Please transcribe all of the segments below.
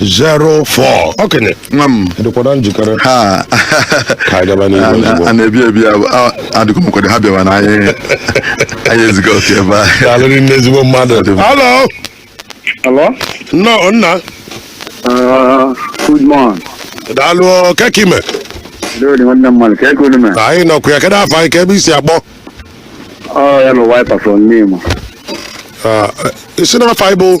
04 okenye nwa m dịkwara njikere ha ka anyị gaba n'ihu ozugbo a na-ebi ebi adịghị m kwado ha bịawa na anyị anyị eziga otu ebe a daalụrị nne ezigbo mmadụ halo Hello? nnọọ nna Uh, good morning. daalụ kee ka ị mee Good nwanne mmadụ ka ego olume. anyị nọkwa ya kedụ afa gị kee ebe i si akpọ Ọ ya na wiper from Nimo. Ah, isi na afọ anyị bụ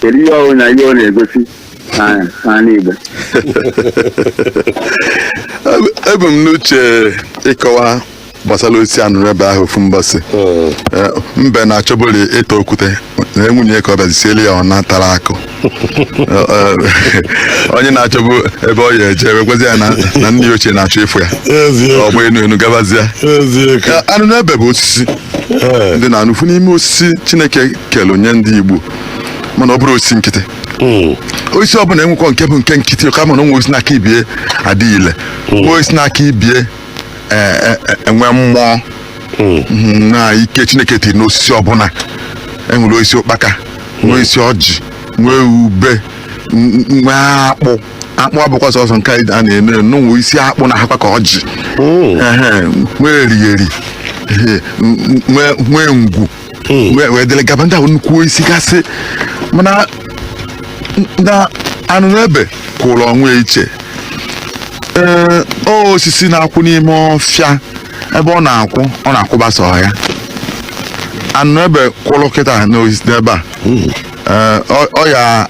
kedu ihe ọ bụ na ihe ọ na-egosi na- n'ala Igbo ebu m n'uche ịkọwa gbasara osisi anụnụ ebe ahụ ofu mbọsị Mm. Eh, mbe na-achọbụli ịta okwute na nwunye ya bịazi siele ya ọna tara akụ Eh, eh, onye na-achọbụ ebe ọ ya-eje wee gwazi ya na na nne ya ochie na-achọ ịfụ ya Eziokwu. ọ gba enu enu gabazia Eziokwu. Eh, anụnụ ebe bụ osisi Ee. dị na ofu n'ime osisi chineke kelu nye ndị igbo mana ọ bụrọ osisi nkịtị Mm. osisi ọbụla enwekwọ nke bụ nke nkịtị kama na o nwe osisi na-aka ibie adị ile nwee osisi na-aka ibie e- e- e- enwe mmụọ Mm. Mhm, na ike chineke tiri n'osisi ọbụla e nwere osisi ụkpaka nwee osisi ọjị nwee ube n- n- nwee akpụ akpụ abụkwa sọsọ nke anyị a na-eli nwee osisi akpụ na-ahakwa ka ọjị Mm. Ehe, nwee erigheri Ehe, n- n- nwee nwee ngwu wee wee dịrị gaba ndị ahụ nnukwu osisi gasị mana na anụnụ ebe kwụrụ onwe iche ee ọ osisi na-akwụ n'ime ọfịa ebe ọ na-akwụ ọ na-akwụba sọ ya anụnụ ebe kwụrụ kịta n'osis- n'ebe a ee, ọ- ọ ya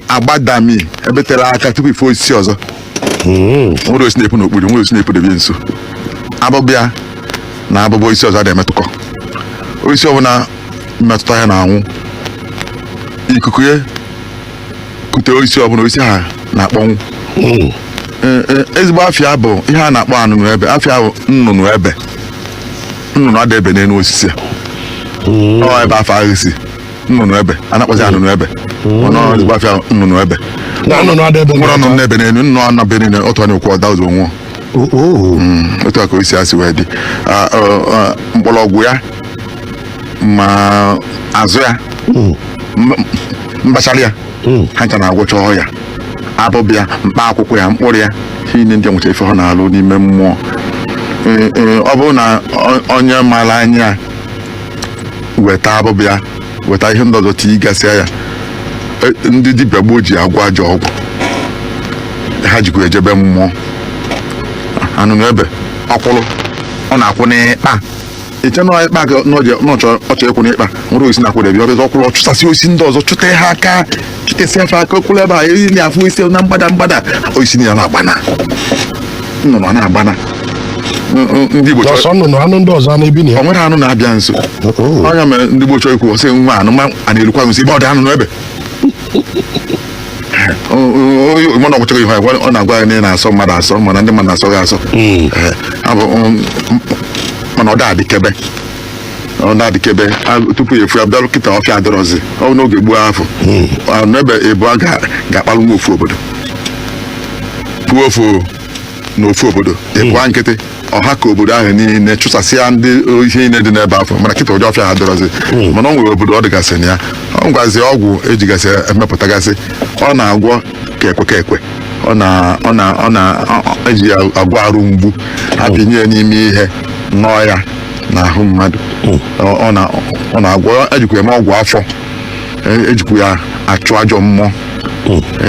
agbadami ebe tere aka tupu ị fụ osisi ọzọ nwerọ osisi na-epu n'okpuru nwerọ osisi na-epu debe nso abụba ya na abụba osisi ọzọ ada emetụkọ osisi ọbụla metụta ya na-anwụ ikuku ya kute osisi ọbụla osisi ahụ na-akpọnwụ Ee, ee, ezigbo afa ya bụ ihe a na-akpọ anụnụ ebe afa ya bụ nnụnụ ebe nnụnụ ada ebe n'elu osisi a ọ ebe afa ahụ si nnụnụ ebe a na-akpọzi ya anụnụ ebe ọ bụ ezigbo afa ya nnụnụ ebe Na nnụnụ ada ebe nwerọ nnụnụ na-ebe n'elu nnụnụ anọ be niile otu a na-ekwu ọ daa ụzọ nwụọ Oo. Mm, otu a ka osisi a si wee dị Ah, ọ, ọ, mkpọrọgwụ ya ma azụ ya Mm. m- mbachara ya Mm. ha ncha na-agwọcha ọya abụba ya mkpa akwụkwọ ya mkpụrụ ya ihe niile ndị a nwecha ife ha na-alụ n'ime mmụọ Ee, ee, ọ bụrụ na ọ- onye maara anya weta abụba ya weta ihe ndị ọzọ tigasịa ya E, ndị dibịa gboo ji agwọ ajọ ọgwụ ha jikwa ejebe mmụọ anụnụ ebe ọ kwụrụ ọ na-akwụ n'ịkpa iche n'ịkpa ka ọ na-achọ ịkwụ n'ịkpa nwerọ osisi na-akwụdebe ya ọ bịa ọ kwụrụ ọ chụsasịa osisi ndị ọzọ chụtee ha aka esi afọ aka okpuru ebe a iri na afọ isi na mgbada mgbada osisi na ya na-agbana nnụnụ a na-agbana N- n- ndị Igbo chọrọ ọsọ nnụnụ anụ ndị ọzọ na-ebi na o nwerọ anụ na-abịa nso Oh. ọ ya mere ndị Igbo chọrọ ikwu sị nwa anụ ma a na-erukwa nso ebe ọ dị anụnụ ebe mana ọgwụchọghị ihe agwa ọ na-agwa ya na ị na-asọ mmadụ asọ mana ndị mmadụ na-asọ gị asọ Eh, abụ, um, m- mana ọ da adịkebe ọ na-adịkebe a- tupu ị ya-afụ ya bịarụ kịta ọfịa adịrọzi ọ bụ n'oge gboo afụ a, n'ebe ịbụa ga- ga-akpalụ nwa ofu obodo puo ofu na ofu obodo ịbụa nkịtị ọha ka obodo ahụ niile chụsasịa ndị ihe niile dị n'ebe afụ mana kịta ụdị ọfịa a adịrọzi mana o nwere obodo ọ dịgasị na ya ọ ngwazi ọgwụ ejigasị emepụtagasị ọ na-agwọ ka ekwe ka ekwe ọ na ọ na ọ na ọ- eji ya agwọ arụ mgbu a pịnye ya n'ime ihe nọọ ya n'ahụ mmadụ Ọ ọ na ọ na-agwọ ejikwa eme ọgwụ afọ E- ejikwa ya achụ ajọ mmụọ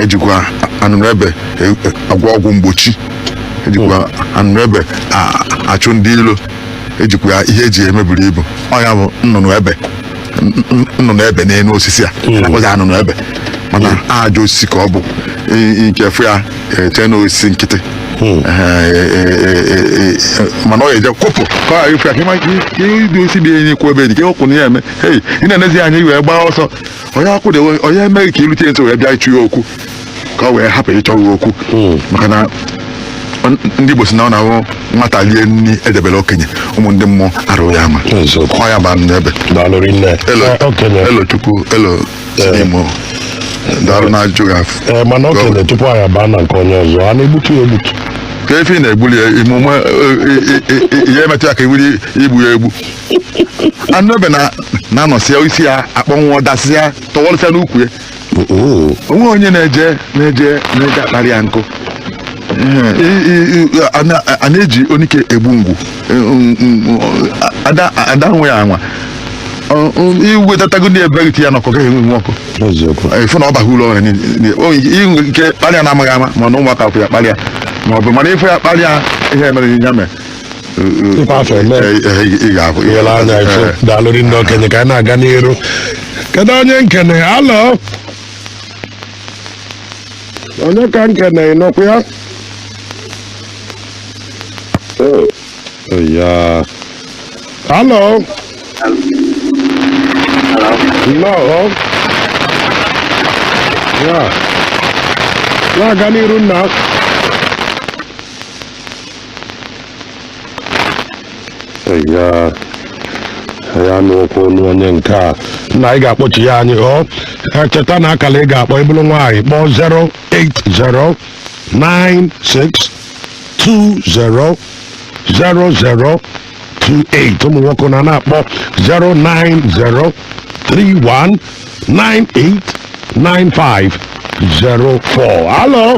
ejikwa anụnụ ebe e- e- agwọ ọgwụ mgbochi ejikwa anụnụ ebe a- achụ ndị ilo ejikwa ya ihe eji eme buru ibu ọ ya bụ nnụnụ ebe nnụnụ ebe n'elu osisi a na-akpọzi anụnụ ebe mana ajọ osisi ka ọ bụ i nwee ike fụ ya chee na osisi nkịtị Ehe, e- e- e- e- e- mana ọ ga-eje kwụpụ ka ọ ghara ịfụ ya ka ịma- ka ihe idu osisi dị enyi kwụ ebe dị ka ịkwụpụ na ya eme hei ị na-enezi ya anya i wee gbaa ọsọ onye akwụdewe onye emeghị ka irute nso wee bịa ịchọ ya okwu ka ọ wee hapụ ịchọ gị okwu maka na n- ndị Igbo sị na ọ na-abụ nwata lie nri edebere okenye ụmụ ndị mmụọ arụ ya ama Eziokwu. ọ ya bụ anụnụ ebe daalụ rinne elo Eh, okenye Elochukwu elo Chinemo daalụ na ajụjụ gị afụ Eh, mana okenye tupu anyị abaa na nke onye ọzọ a na-egbutu ya egbutu ka efi ị na-egbuli ya ime ụmụ ihe emetụ ya ka iwuri igbu ya egbu anụnụ ebe na- na-anọsịa isi ya akpọnwụọ dasịa tọwọlụsịa n'ukwu ya o nwe onye na-eje na-eje na-eje akparị ya nkụ I- i- i- a na- a na-eji onike egbu ngwu E, mm, mm, a da- a da anwa ya anwa Ọ- ọ- i wetatago ndị ebe gị ya n'ọkụ gaghị enwu nwu ọkụ eziokwu ị fụ na ọ baghị uru o nwere ike inwe ike kparịa na amaghị ama ma na ụmụaka fụ ya kparịa ma ọ bụ mana ị fụ ya kparịa ihe mere ya mee Ịkwa afọ eme. Eh, eh, ị ga-ahụ ihe I wele anya fụ Eh, daalụ rinne okenye ka anyị na-aga n'iru kedu onye m na-ekene hello onye ka m na-ekene ị nọkwa ya Oh, ya hello nnọọ ya na-aga n'iru nna ya ya n'okwu ọnụ onye nke a na ị ga-akpọchi ya anyị ọ cheta na akala ị ga-akpọ ị bụrụ nwaanyị kpọọ 08096200028 ụmụ nwoke na na-akpọ 09031989504 alo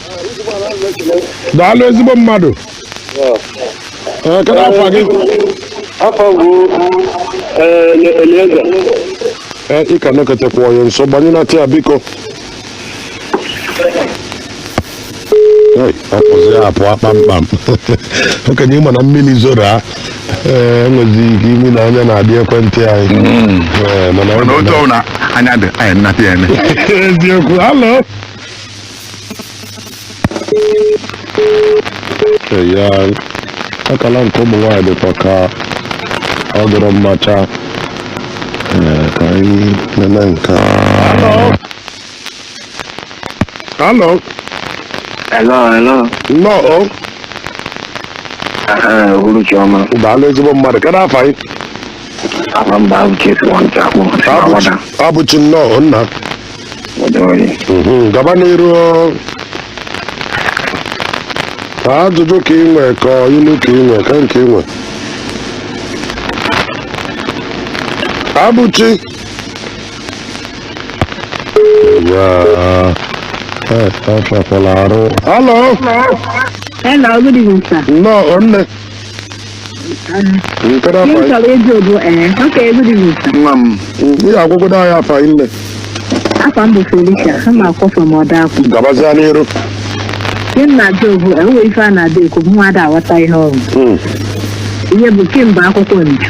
daalụ ezigbo mmadụ Ee, kedu afa gị afa m bụ Elieza Ee, ị ka nọketekwa ya nso gbanyenata ya biko Ei, ọ pụzi ya apụ kpamkpam okenye ị ma na mmiri zoro a ee enwezi ike ime na anya na-adị ekwentị anyị Ee, mana ọ mana otu ọbụla anya dị anyị nnata ya eme eziokwu halo ya akala nke ụmụ nwaanyị dịkwa ka ọ dịrọ mma chaa Ee, ka anyị nene nke a Hello. Hello, hello. Nnọọ. Aha uhuruchi ọma. Daalụ ezigbo mmadụ. Kedụ afa gị? Afa m bụ Abụchi Nwantakwu. Abụchi nnọọ nna. Mhm, gaba n'iru ka ajụjụ ka ị nwee ka ọ ilu ka ị nwee kee nke ị nwee Abụchi ya eh, ọ fọkwala arụ halo Hello, good evening, sir. nnọọ nne Nkere Ihe m afa chọrọ ịjụ bụ ee okay good evening sir nwa m ihe agwụgwọ anyị afa nne afa m bụ Felicia ana m akpọ from Ọdakpụ gabazia n'iru ihe m na-ajụ bụ e nwe ife a na-ada ekwu bụ nwa ada aghọta ihe ọrụ ihe bụ kemgbe akwụkwọ nju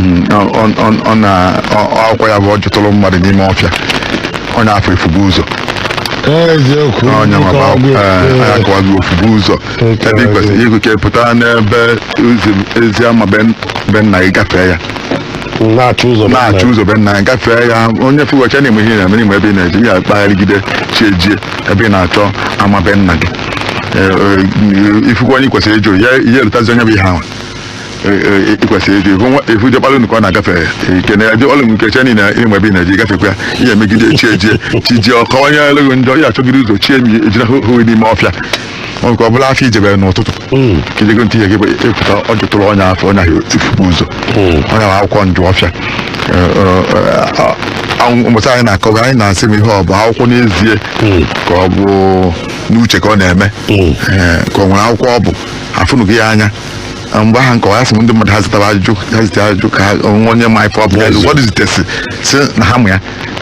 Mm, ọ- ọ- ọ- ọ na ọ- ọkwa ya bụ ọ jụtụrụ mmadụ n'ime ọfịa onye afụ efubu ụzọ eziokwu onye ma Nkọwa gị, ee. akọwazi ofubu ụzọ Otu ebe ị a, kwesịrị ịgụ ka ị pụta n'ebe ụzọ- ezi ama be be nna gị gafee ya na-achọ ụzọ na-achọ ụzọ be nna gị gafee ya onye fụwacha na-eme ihe ị na-eme n'ime ebe ị na-eje ya kpagharịgide chi ejie ebe ị na-achọ ama be nna gị Ee, ee, ị fụkwa onye ị kwesịrị ịjụ ya ihe erutazi onye bụ ihe ahụ ịkwesịrị ịdị hụ nwa- ihu jekpalụ nke ọ na-agafe ikene ya jekpalụ nke che niile ịnwe ebe ị na-eji gafekwa ya ihe megide echi ejie chi jie ọkọwanye eleghị njọ ya achọgide ụzọ chie mi ejina hụ hụ n'ime ọfịa ọ nke ọ bụla afọ ijebere n'ụtụtụ ka ijego ntị ihe gị bụ ịpụta ọ jụtụrụ onye afụ onye ahụ tikpu ụzọ ọ ya bụ akwụkwọ njụ ọfịa mmụta anyị na-akọwa anyị na-asị m ihe ọ bụ akwụkwọ n'ezie ka ọ bụ n'uche ka ọ na-eme Ee, ka ọ nwere akwụkwọ ọ bụ afụnụghị ya anya Na mgbe ahụ nkọwa ya sị m ndị mmadụ ha zitara ajụjụ ha zite ajụjụ ka ha onwe onye ma ife ọ bụ Yes. ụfọdụ zitesị si na ha mụ ya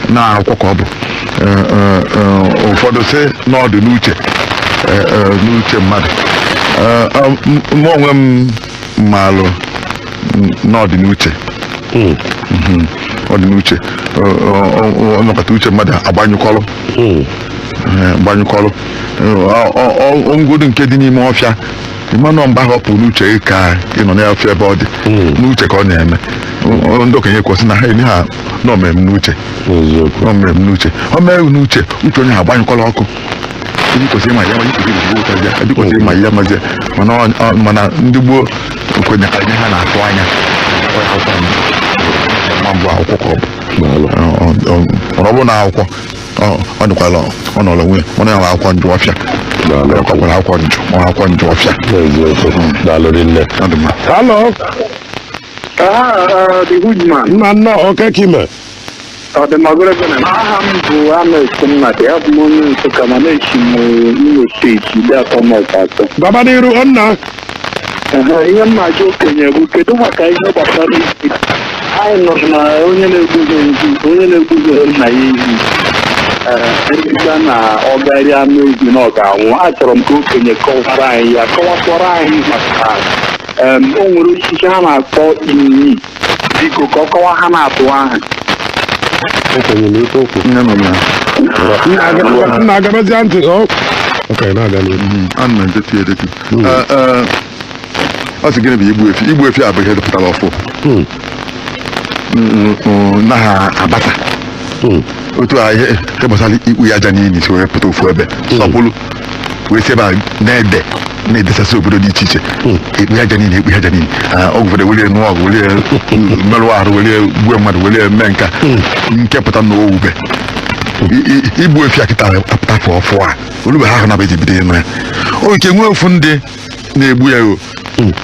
na akwụkwọ ka ọ bụ Eh, eh, eh, ụfọdụ si na ọ dị n'uche eh, eh, n'uche mmadụ Eh, eh, m- mụ onwe m maalụ m- na ọ dị n'uche Mm, Mhm. ọ dị n'uche Ọ- ọ- ọ- ọ nakọta uche mmadụ agbanyụkọrọ mm. Eh, gbanyụkọrọ Eh, ọ- ọ- ọ- ngwudu nke dị n'ime ọfịa ịmanụ mgbe ahụ ọ pụrụ n'uche gị ka ị nọ n'ọfịa ebe ọ dị Mm. n'uche ka ọ na-eme Ọ- ndị okenye kwesị na ha enye ha na o mere m n'uche eziokwu na o mere m n'uche o mere m n'uche uche onye ha agbanyụkwala ọkụ Ndị kwesịrị ịma ya ma ikwesịrị iji gbuo ụtazị ya ndị kwesịrị ịma ya mazi ya. mana ọ- ọ- mana ndị gboo kwenye ka ihe ha na-atụ anya Ọ ya akwụkwọ m. Ma mbụ akwụkwọ ka ọ bụ daalụ Ọ- ọ- ọ- mana ọ bụrụ na akwụkwọ ọ ọ dịkwala ọ nọrọ onwe ya mana ya nwe akwụkwọ njụ ọfịa Daalụ. ọ kwakwara akwụkwọ njụ ọ akwụkwọ njụ ọfịa N'eziokwu. Daalụ rinne. ọ dị mma Hello. the good man Nna nnọọ kee ka i me. ọ dị mma goro gị na aha m bụ James nnadi abụ m onye nsụka mana esi m imo steeti ideatọ ma ọkwa atọ Gaba n'iru nna. Aha, ihe m na-ajụ okenye bụ kedu maka ihe gbasara ehi anyị nụrụ na onye na-egbuzo nzu onye na-egbuzo nna ya ehi emechaa na ọ ga-eri anụ ehi na ọ ga-anwụ achọrọ m ka okenye kọwara anyị ya kọwakwara anyị maka em, o nwere osisi ha na-akpọ inyi biko ka ọ kọwa ha na-atụ aha Okenye nụ ife o kwu. Nne m na Nna aga- na-egebazi ntị. ọ- Okay, na-aga n'ihu. ana m edetu edetu Hmm. Eh, eh, ọ sị gịnị bụ igbu efi igbu efi a bụ ihe dịpụtara ọfụụ Hmm. Mm, mm, naghị abata Hmm. otu a ihe ihe gbasara ikpu ya aja n'ili si wee pụta ofu ebe sọpụrụ wee si ebe a na-ede na-edesasị obodo dị iche iche ikpu ya aja n'ili ikpu ya aja n'ili Ah, ọgwụ ụfọdụ were nụọ ọgụ were merụ arụ were gbuo mmadụ were mee nke a nke pụta na owube I- i- igbu efi a kịta apụta ọfụụ ọfụụ a olugbe ha ahụ na eji bido ịnụ ya o nke nwee ofu ndị na-egbu ya o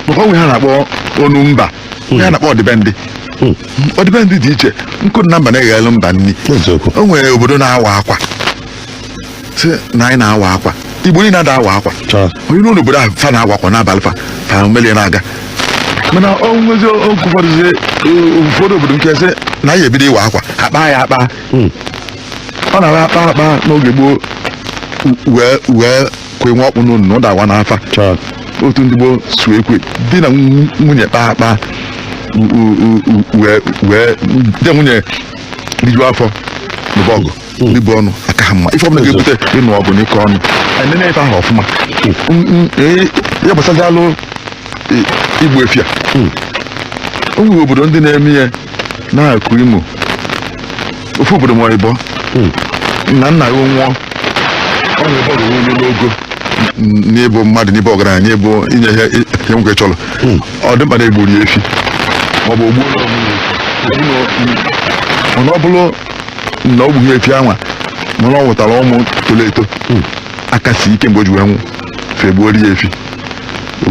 maka o nwe ihe a na-akpọ ọnụ mba a na-akpọ ọdịbendị ọdịbendị dị iche nkụ dị na mba na-eghere mba nri eziokwu o nwere obodo na-awa akwa sị na anyị na-awa akwa igbo niile ada awa akwa onye n'ụlọ obodo ahụ fa na-awa akwa n'abalị fa fa melie na-aga mana ọ nwezi oge ụfọdụ zie, eh, ụfọdụ obodo nke sị na anyị ebido ịwa akwa a kpaa ya akpa ọ na-ara akpa akpa n'oge gboo wee wee kwe nwa ọkpụ n'ọnụ na ọ dawa n'afa otu ndị gboo si ekwu di na nw- nwunye kpaa akpa u- u- u- u- wee wee di na nwunye rijuo afọ nụba ọgụ ibu ọnụ aka ha mma ife ọbụla ga-ebute ịnụ ọgụ na ịkọ ọnụ e nenee ife ahụ ọfụma M- m- ee, ya gbasazịalụ i- igbu efi a o nwere obodo ndị na-eme ya n'akụkụ imo ofu obodo ma ịbọ na nna ya nwụọ o nwere ebe o rugo n'ogo n- n'ịbụ mmadụ n'ịbụ ọgaranya n'ịbụ inye ihe ihe nwoke chọrọ ọ dị mkpa na egburu ya efi ma ọ bụ o gbuo ya ọmụrụ efi. Unu- mana ọ bụrụ na ọ gbughi efi anwa mana ọ mụtara ụmụ toro eto aka si ike mgbe o ji wee nwụ fe egbuori ya efi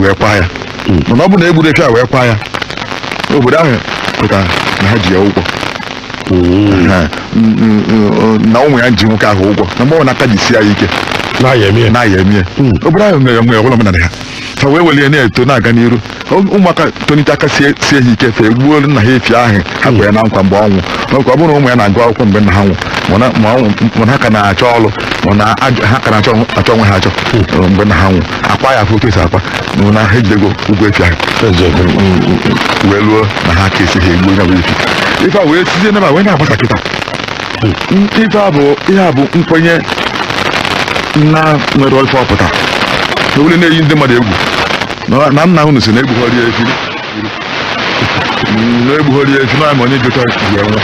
wee kwa ya mana ọ bụrụ na egburo efi a wee kwa ya obodo ahụ kwetara na ha ji ya ụgwọ Aha. N- n- n- na ụmụ ya ji nwoke ahụ ụgwọ na mgbe ọbụna aka jisi ya ike na a ya-eme ya na ya emie obodo ahụ wee were ọ bụrụ omenala ha ha wee welie na-eto na-aga n'iru Ụm- ụmụaka tonite aka sie sie ha ike fe egbuoro nna ha efi ahụ ha kwere na nkwa mgbe ọ nwụ ọkwa ọ bụrụ na ụmụ ya na-agụ akwụkwọ mgbe nna ha nwụ mana ma ọnwụ mana ha ka na-achọ ọrụ mana ajọ- ha ka na-achọ ọnwụ- achọ onwe ha achọ mgbe nna ha nwụ akwa ya afọ otu esi akwa nụ na ha ejidego ụgwọ efi ahụ wee luo na aka esi ha egbuo ya bụ efi ife a wee sizie n'ebe a wee na-agbasa kịta ife a bụ ihe a bụ nkwenye na-enwerọ ife ọ pụta na ule na-eyi ndị mmadụ egwu na- na nna unu sị na egbughọrị ya efi na-egbughori ya efi naanị onye jụta ya nwa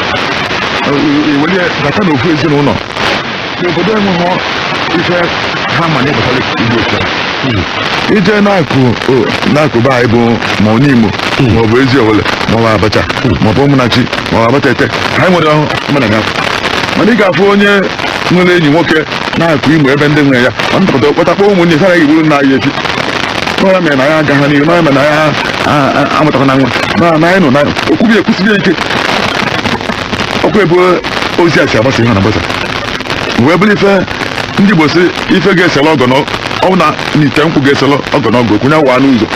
iwere ya bata n'ofu ezinụlọ n'obodo enweghị ife ha ma n'ife gbasara igbu efi a i je n'akụ o- n'akụkụ be anyị bụ ma ọ nimo ma ọ bụ eziowelle ma ọ bụ abacha ma ọ bụ ụmụnachi ma ọ bụ abatete anyị nwere ahụ mana ga mana ị ga-afụ onye nwere enyi nwoke n'akụkụ imo ebe ndị nwe ya ọ nata pụta ọ kpọtakọọ ụmụnne ya sị a ga-egburu nna anyị efi na ọ ya mere na ya agaghị n'ihu na ọ ya mere na ya amụtakwa na nwa na na anyị nọ na o kwube e kwusibe ike ọkwa ebe ozi a si agbasa ihe na agbasa wee bụrụ ife ndị igbo sị ife ga-esela ọgọ ọ na ite nkwụ ga-esela ọgọ na ọgọ okwu ya waa n'ụzọ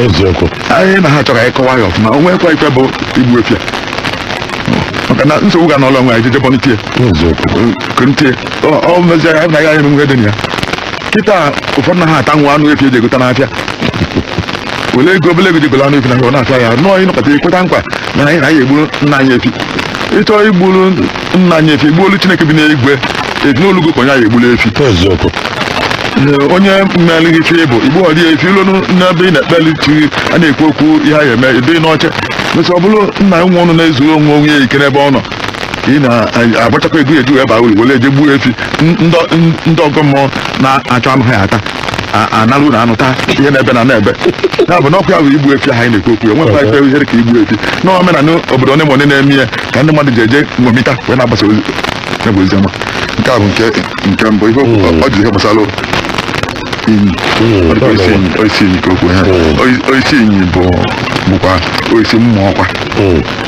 eziokwu anyị na ha chọrọ anyị kọwa ya ọfụma o nwekwa ife bụ igbu efi a maka na nsogbu ga n'ụlọ nwe anyị jejebọntie eziokwu kụntie ọ mezie ya na ya ya emume dị na ya kịta ụfọdụ na ha ata nwa anụ efi eji egota n'afịa wele ego obele ego je golo anụ efi na ọ na-ata ya nọọ ịnọkọta ikweta nkwa na anyị na anyị egburu nna anyị efi ịchọ igburu nna anyị efi gbuolu Chineke bi n'igwe ezinụlọ gị kwenye anyị egburu efi eziokwu Ee, onye mmelighị ife bụ igbu ọdị efi ilu n'ebe ị na-ekpeli chi gị a na-ekwu okwu ihe a ga-eme ịdị n'ọcha mesi ọ bụrụ nna nwa ọnụ na-ezuru onwe onwe ya ike n'ebe ọ nọ ị na-agbachakwa ego e ji aba uru were eje gbuo efi n- ndọ- n- ndị ọgọ mmụọ na-achọ anụ ha ata a- analụ na anụ taa ihe na-ebe na na-ebe ya bụ n'ọkụ ya bụ igbu efi ahụ anyị na-ekwu okwu ya nwekwa ife ihere ka igbu efi n'omenala obodo onye ma onye na-eme ya ka ndị mmadụ ji eje ṅomita wee na-agbasa ozi ya bụ ozi ọma nke a bụ nke nke mbụ ihe ọ- ọ ji ihe gbasara inyi Oisi inyi oisi inyi ka okwu ha Ọ- oisi inyi bụ bụkwa oisi mmụọ ọkwa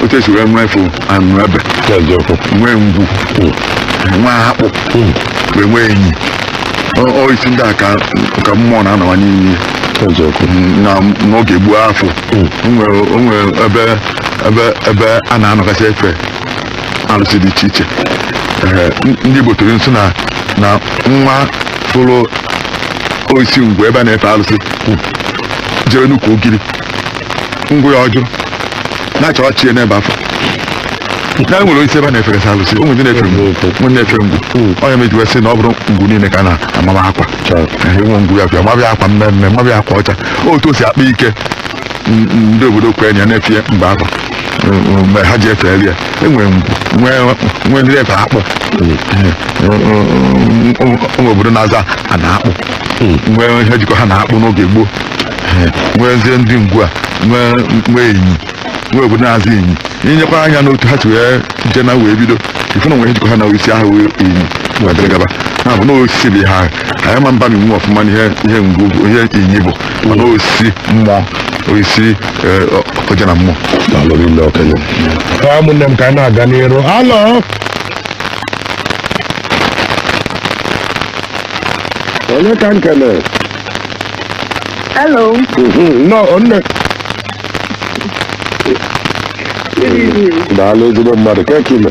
otu esi wee nweefu anụebe nwee ngwu nwee akpụ wee nwee inyi Ọ- oisi ndị a ka ka mmụọ na-anọwa n'ime na n'oge gboo afụ o nwere o nwere ebe ebe ebe a na-anọgasị efe arụsị dị iche iche Ee, n- ndị Igbo tụrụ sị na na nwa fụrụ oisi ngwu ebe a na-efe arụsị kwụ, jere n'ukwu ogiri ngwu ya ọjụ na-achọ chi ya n'ebe afụ na e nwere oisi ebe a na-eferesị arụsị o nwee ndị na-efe ngwu o nwee ndị na-efe ngwu onye meji wee sị na ọ bụrọ ngwu niile ka a na-amaba akwa e nwee ngwu a bịa maba ya akwa mmee mmee maba ya akwa ọcha otu o si akpa ike n- ndị obodo kwenye na-efe ya mgbe afụ mgbe ha ji efeli ya e nwere ngwu nwee nwee ndị efe akpụ nwee obodo na-aza a na akpụ nwee ihe jikọ ha na akpụ n'oge gboo nweezie ndị ngwu a nwee nwee inyi nwee obodo na-aza Inyi i nyekwa anya n'otu ha si wee je na wee bido ị fụ na o nwere ihe jikọ ha na oisi ahụ wee inyi wee dịrị gaba ya bụ na osisi bụ ihe ahụ anyị ma-abaminwu ọfụma n'ihe ihe ngwu bụ ihe inyi bụ mana oisi mmụọ oisi eh, ọ- ọja na mmụọ daalụ rinne okenye ka ụmụnne m ka anyị na-aga n'iru alo onye ka m na-ekene Hello. nnọọ nne Good evening. daalụ ezigbo mmadụ kee ka i me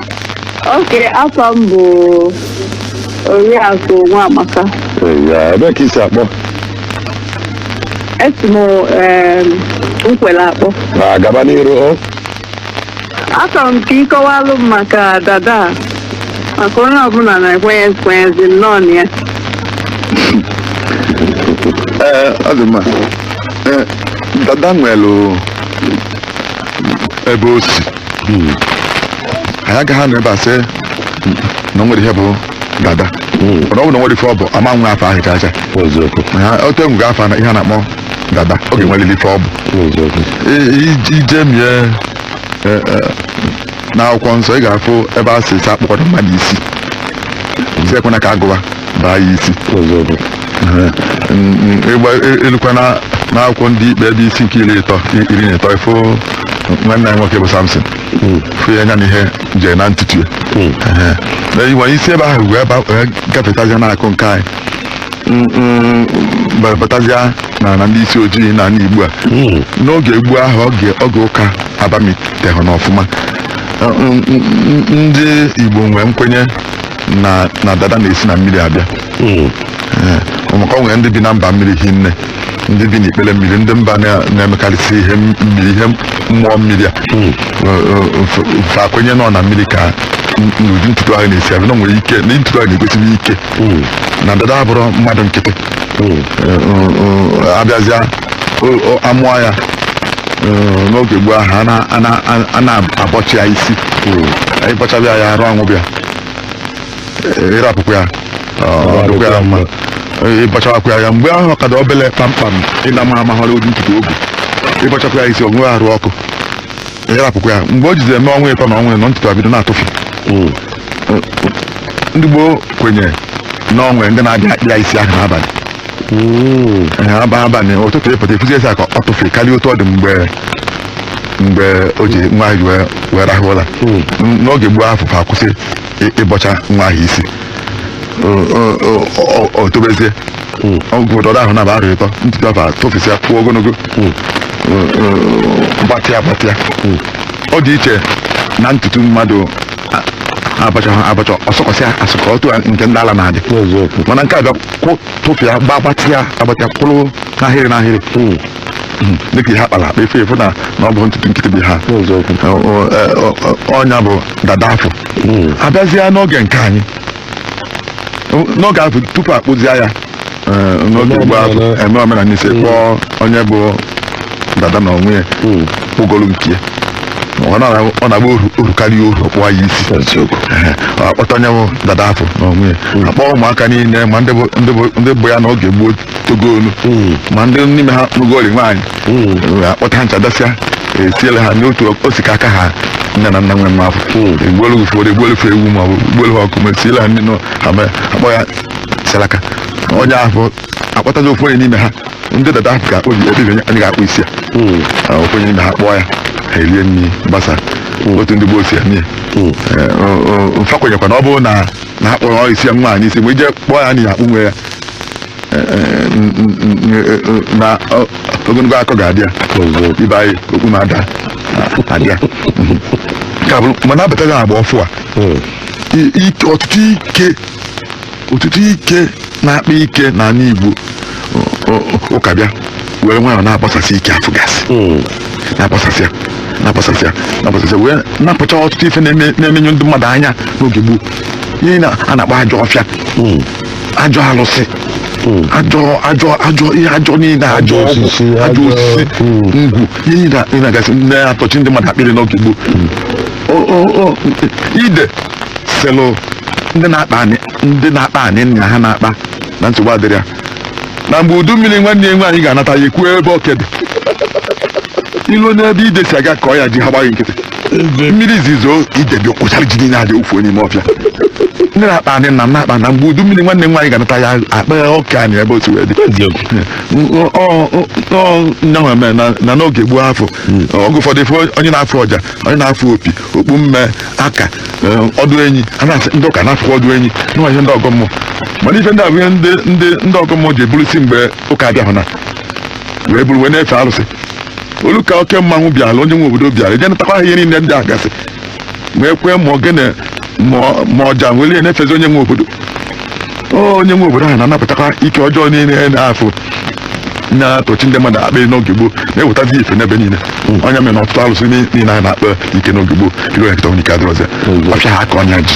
Oke, afa m bụ Oriakụ Nwamaka. Ee, ya ebee ka i si akpọ Esi m em, Nkwelle akpọ. na gaba n'iru o Achọrọ m ka ị kọwalụ m maka dada a. maka onye ọbụla na-ekwenye ekwenyezi nnọọ na ya. ee ọ dị mma ee dada nwere ebe o si anyị agaghị anọ ebe a sị na o nwere ihe bụ dada mana ọ bụ na o nwerọ ife ọ bụ ama nwe afa ahụ chacha eziokwu Ha- otu e nwego afa ihe a na-akpọ dada ọ ga-enwerịrị ife ọ bụ eziokwu I- i- i jemie e, e, n'akwụkwọ nsọ ị ga-afụ ebe a sị akpụkwala mmadụ isi sị ekwena ka agụwa baa ya isi Ee, n- n- ịgba e- elukwa na n'akwụkwọ ndị ikpe ebe isi nke iri ịtọ iri na ịtọ ị fụ nwanne anyị nwoke bụ samson fụ ya anya na ihe jee na ntutu ya Ehe. Na i wee si ebe ahụ wee ba- wee gafetazịa n'aka nke anyị Mm, mm, ba- batazịa na na ndị isi ojii na ndị igbo a n'oge gboo ahụ oge oge ụka abamiteghị n'ọfụma Ọ- n- n- n- ndị igbo nwee nkwenye na na dada na-esi na mmiri abịa Mm. Ee, ọ maka o nwere ndị bi na mba mmiri hinne ndị bi n'ikpere mmiri ndị mba na- na-emekarịsị ihe m- mmiri ihe mmụọ mmiri a Ee, ee, fa- fa kwenye na ọ na mmiri ka n- n'ụdị ntutu ahụ na-esi abịa na o nwere ike na ntutu ahụ na-egosibi ike Mm. na dada abụrọ mmadụ nkịtị Mm. Ee, ee, ee, abịazịa o- o- amụọ ya ee, n'oge gboo ahụ a na- a na- a na-abọcha ya isi ị bọchabe ya arụ anwụbe ya ị rapụkwa ya ọ dịkwa ya mma ị bọchawakwa ya mgbe ahụ ọ ka dị obele kpamkpam ịna ma amaghara ụdị ntutu o bu ị bọchakwa ya isi o nwee arụ ọkụ ị rapụkwa ya mgbe o jizi eme ọnwa ịtọ na ọnwa ịnọ ntutu abido na-atụfị ndị gboo kwenyere na o nwe ndị na-abịa akpa ya isi ahụ n'abalị Ee, aba- abalị ụtụtụ ị pụta ị fụzie isi ka ọ tụfịa karịa otu ọ dị mgbe mgbe o ji nwa ahụ ji wee wee rahụ ụra N- n'oge gboo afụ fa akwụsị ị- ịbọcha nwa ahụ isi O- o- o- o- o tobezie ọgwụdọrọ ahụ na-aba arọ ịtọ ntutu afụ atụfịsịa puo ogologo O- o- gbatịa gbatịa ọ dị iche na ntutu mmadụ a- abọchahọ abọcha ọ sụkọsịa asụkọ otu a nke ndị ala na-adị n'eziokwu mana nke a bịa kwụ tụfịa gba- gbatịa agbatịa kwụrụ n'ahịrị n'ahịrị dịka ihe akpara akpa ị fụ ị fụ na na ọ bụhọ ntutu nkịtị bụ ya onye bụ dada afụ abịazịa n'oge nke anyị n'oge afụ tupu akpụzie ya eh, n'oge gboo afụ eme omenala ise kpọọ onye bụ dada na onwe ya kpụgolu nke ya ọ na- ọ na-agba oru oru karịa oru ọkpụwa ya isi Ehe, a kpọta onye bụ dada afụ na onwe ya akpọọ ụmụaka niile ma ndị bụ- ndị bụ- ndị bụ ya n'oge gboo togo onu ma ndị n'ime ha lụgoli nwaanyị Eh, akpọta ha ncha dasịa esiele ha n'otu o si ka aka ha nne na nna nwe nwa afụ egbuelu ụfọdụ egbuelu fa ewu ma ọ bụ egbuelu ha ọkụkọ ma esiele ha ndị nọ ha na-akpọ ya salaka onye afụ akpọtazi ofu onye n'ime ha ndị dada ahụ ka obi obi onye anyị ga-akpụ isi ya Ah, ofu onye n'ime ha kpụọ ya ha erie nri gbasa otu ndị gboo si eme ya fa kwenyekwa na ọ bụrụ na na ha kpụrụ isi ya nwaanyị isi mgbe ije kpụọ ya n'ihi akpụ nwe ya na ogologo akọ ga-adị ya ibe anyị okpu ma ada adị ya ka bụrụ mana a batago n'agba ọfụ a i- ike ọtụtụ ike ọtụtụ ike na-akpa ike na ala Igbo ọ- ọ- ụka bịa were nwayọ na-agbasasị ike afụ gasị na-agbasasịa na-agbasasịa na-agbasasịa wee napụcha ọtụtụ ife na-eme- na-emenye ndị mmadụ anya n'oge gboo ihe a na-akpọ ajọ ọfịa ajọ alụsị ajọ ajọ ajọ ihe ajọ niile ajọ Ajọ ọgwụ, osisi, ajọ ajọ- osisi Mm. ngwu ihe niile ndị a gasị na-atọchi ndị mmadụ akpịrị n'oge gboo O- o- o, ide sịlị ndị na-akpa anị ndị na-akpa anị na ha na-akpa na nsogbu adịrọ ya na mgbe udu mmiri nwanne ya nwaanyị ga-anata ya ekwuo ebe oke dị e luo n'ebe ide si aga kọọ ya ji ha gbachi nkịtị mmiri izizi zoo ide bịa kwọchara ji niile a je wụfuo n'ime ọfịa ndị na-akpa anị nna m na-akpa na mgbe udu mmiri nwanne m nwaanyị ga-anata ya a kpaa oke anị ebe o si wee dị nyanwa mee na na n'oge gboo afụ oge ụfọdụ ife onye na-afụ ọja onye na-afụ opi okpu mme aka eh, ọdụ enyi a na-asị ndị ụka na-afụkwa ọdụ enyi na ọ ihe ndị ọgọ mmụọ mana ife ndị a bụ ihe ndị ndị ndị ọgọ mmụọ ji eburu si mgbe ụka abịahụ na wee buru wee na-efe arụsị o lu ka oke mmanwụ bịara onye nwe obodo bịara eje natakwa ha ihe niile ndị a gasị wee kwee ma ogene ma- ma ọja were ya na-efezi onye nwe obodo O, onye nwe obodo ahụ na-anapụtakwa ike ọjọọ niile na-afụ na-atọchi ndị mmadụ akpịrị n'oge gboo na-ewetazi ife n'ebe niile ọ ya mere na ọtụtụ arụsị ni- niile a na-akpa ike n'oge gboo i ruo ya kịta nwere ike adịrọzi ọfịa ha a kọnye ya ji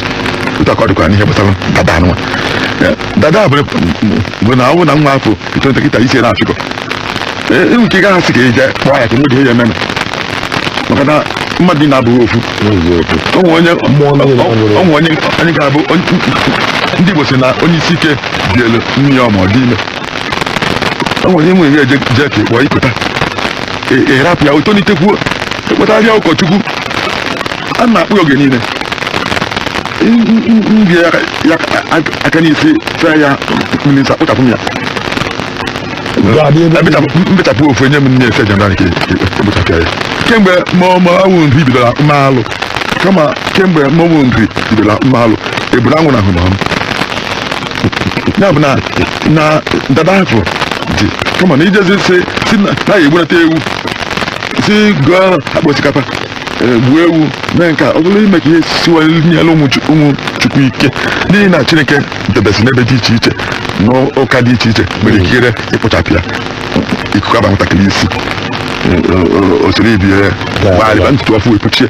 otu a ka ọ dịkwa n'ihe gbasara dada anụnwa dada bụ bụ na ọ bụ na nwa afụ etonite kịta isi na-achịkọ i nwee ike gaghị asị ka e je kpụọ ya ka mgbe ihe ya ememe maka na mmadụ niile abụghị ofu o nwere onye Mmụọ niile o nwere- o nwere onye onye ga-abụ onye- ndị Igbo si na onye isi ike dị elu nne ya ọ ma ọ dị ime o nwere onye nwere ihe eje jee ka ịkpọ ikweta Ị- ị rapụ ya o tolitekwuo a kpọtara ya ụkọchukwu a na-akpụ ya oge niile bie ya aka n'isi fee ya mmiri nsọ kpụchapụ m ya mbechapụ ofu enye m nne efe jana nke ekpụchapụ ya kemgbe mọmọwụ nri bidoro mma alụ kama kemgbe mọmụ nri bidoro mma alụ eburu anwụ na ahụ na ya bụ na na dada afọ dị kama na ijezi si si na ya egburata ewu sị goo akpa osikapa eh, gbuo ewu mee nke a ọ bụrụ ime ka ihe siwanyere ụmụ Chu- ụmụ chukwu ike n'ihi na chineke debesi n'ebe dị iche iche n'ụka dị iche iche nwere ikikere ịkpụchapụ ya ikuku aba nwatakịrị isi o soro ibe ya gbalịba ntutu ọfụụ epuchie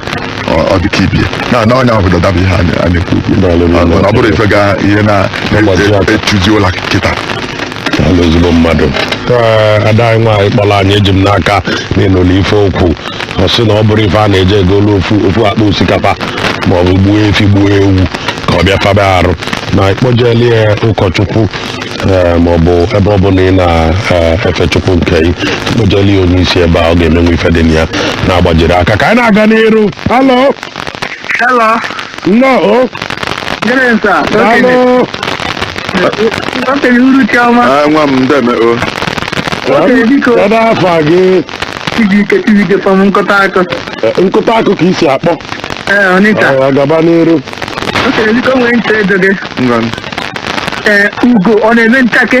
ọ dị ka ibe ya na na nya bụ dada bụ ihe a na- a na-ekwu okwu Daalụ, daalụ. ọ bụrọ ife ga ihe na Mgbazi aka. echuzi ụla kịta Daalụ ezigbo mmadụ Ee, ada anyị nwaanyị kpọrọ anyị eji m n'aka na ị nụlụ ife o kwu ọ sị na ọ bụrọ ife a na-eje egolu ofu ofu akpa osikapa ma ọ bụ gbuo efi gbuo ewu ka ọ bịa faba arụ na ị kpọjeli ya ụkọchukwu ee, ma ọ bụ ebe ọ bụla ị na-efe chukwu nke gị ị kpọjeli ya onye isi ebe a ọ ga-emenwu ife dị na ya na-agbajiri aka ka anyị na-aga n'iru halo Hello. Nnọọ. Good evening sir. Daalụ. Okenye uruchi ọma. Ah, nwa m ndeme o Okenye biko. Kedu afa gị? Chibike Chibike from Nkụtaakụ. Eh, Nkụtaakụ ka i si akpọ. Ee, Ọnịcha. Ah, Gaba n'iru. Okenye biko nwere nche edo gị. ngwa Ee, ugo ọ na-eme nchake.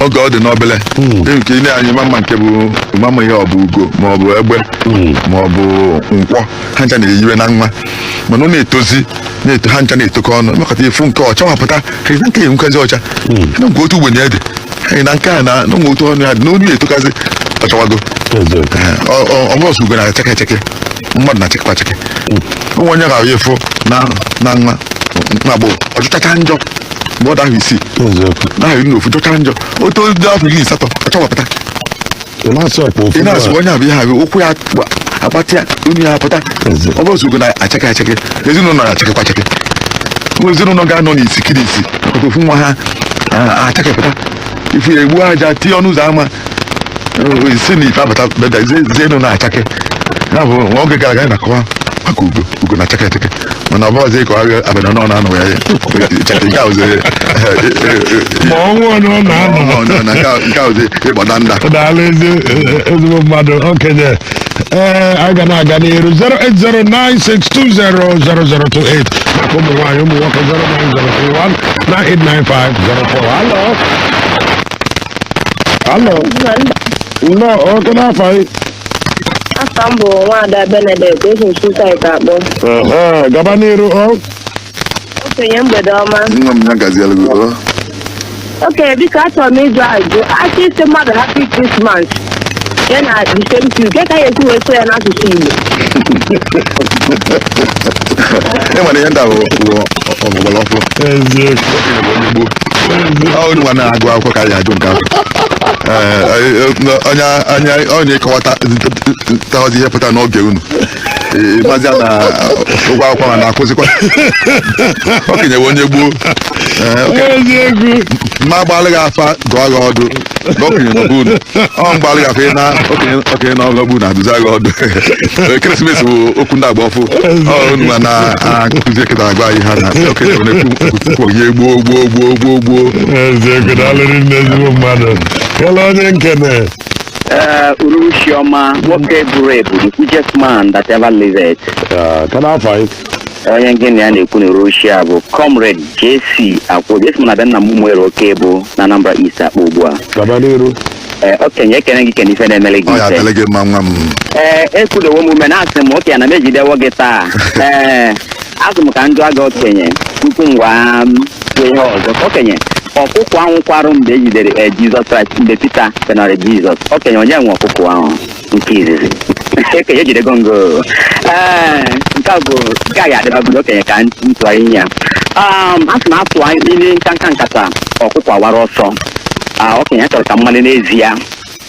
oge ọ dị n'obele nke i le anya ị ma ama nke bụ ma ama ihe ọ bụ ugo ma ọ bụ egbe ma ọ bụ nkwọ ha ncha na-eyiwe na nwa mana ọ na-etozi na-eto ha ncha na-etokọ ọnụ mekọta ị fụ nke ọ chawapụta ka ị nke enwekazi ọcha na nke otu ugbene dị anyị na nke a na na nwe otu ọnụ ya dị na onye etokazi ọ chawago ọ bụrọ sọ ugo na-achake achake mmadụ na-achakwa achake o nwe onye ga-ahụ ifu na na nwa na agbụrụ ọ jọchacha njọ mgbe ọ dị ahọ isii eziokwu dị ahọ iri na ofu jọcha njọ o too dị afọ iri na asatọ ọ chawapụta ị na-asị ọkpa ofu ị na-asị nwa. onye abụ ihe abụ ukwu ya agba- agbatịa onu ya apụta Eze. ọ bụrọ sọ ugo na-achake achake ezinụlọ na-achakekwa achake Ụmụ ezinụlọ ga-anọ n'isi kiri isi maka ofu nwa ha a- achakepụta ị fụ ya egbuo aja tinye ọnụ ụzọ ama Eh, sị na ife abata beda ezi ezinụnọ achake ya bụ na oge gara aga anyị na-akọwa maka ugo ugo na-achake achake mana ọ bụzi ka ọ ga abịa na ọ na-anọ ya cheta nke ahụzi ma ọnwụ onye ọ na-anọ nke ahụzi ịgbada nda daalụ ezi ezigbo mmadụ okenye ee anyị ga na-aga n'iru 08096200028 maka ụmụ nwaanyị ụmụ nwoke 09031989504 alo alo nnọọ oke n'afọ anyị Afa m bụ Nwaada Benedict esi m Nsụka akpọ. Ehe, gaba n'iru o Okenye mgbede ọma. nwa m ya gaziere gị o Okenye biko achọrọ m ịjụ ajụjụ. A chọọ ịsị mmadụ happy Christmas. Ya na the same thing. Kee ka a ya-esi wee sụọ ya n'asụsụ Igbo. ị nwere ihe ndị ahụ ọgbara ọfụ onye nwa na-agụ akwụkwọ ka a ya-ajụ nke ahụ onye anya onye ịkọwata tawazi ihe pụta n'oge unu mazi ya na-agụ akwụkwọ ma na-akụzikwa okenye bụ onye gboo ma agbaalị gị afa dụọ gị ọdụ na okenye nọ bụ unu ọ mgbaalị gị afa na okenye okenye nọ n'obu na-adụzi gị ọdụ ekeresimesi bụ okwu ndị agba ọfụụ ọ unu ma na-akụzi eketa agwa anyị ha na okenye nọ na-ekwu okwu onye gboo eziokwu daalụ rinne ezigbo mmadụ kele onye nkene ee uruchi ọma nwoke buru ebu the richest man that ever lived ka n'afọ anyị onye gị na ya na-ekwu n'uruchi a bụ comrade JC Akwuobi esi m na be nna m Ụmụeri Okebo na Anambra East akpọ ugbu a gaba n'iru ee okenye ekene gị kene ife na-emele gị ọ ya ife adịlị gị mma nwa m ee ekudewo m ume na-asị m okenye na m ejidewo gị taa ee asị m ka m jụọ gị okenye tupu mụwa ekwuo ihe ọzọ okenye ọkụkọ ahụ kwarụ mgbe ejidere ee, Jizọs Kraịst mgbe Pita gọnara Jizọs okenye onye nwe ọkụkọ ahụ nke izizi okenye ejidego m gị ee nke a bụ nke a ya dịbagodu okenye ka m tụa inu a Um, a sị na atụa inu nkanka nkata ọkụkọ awara ọsọ Ah, okenye achọrọ m ka m malụ n'ezie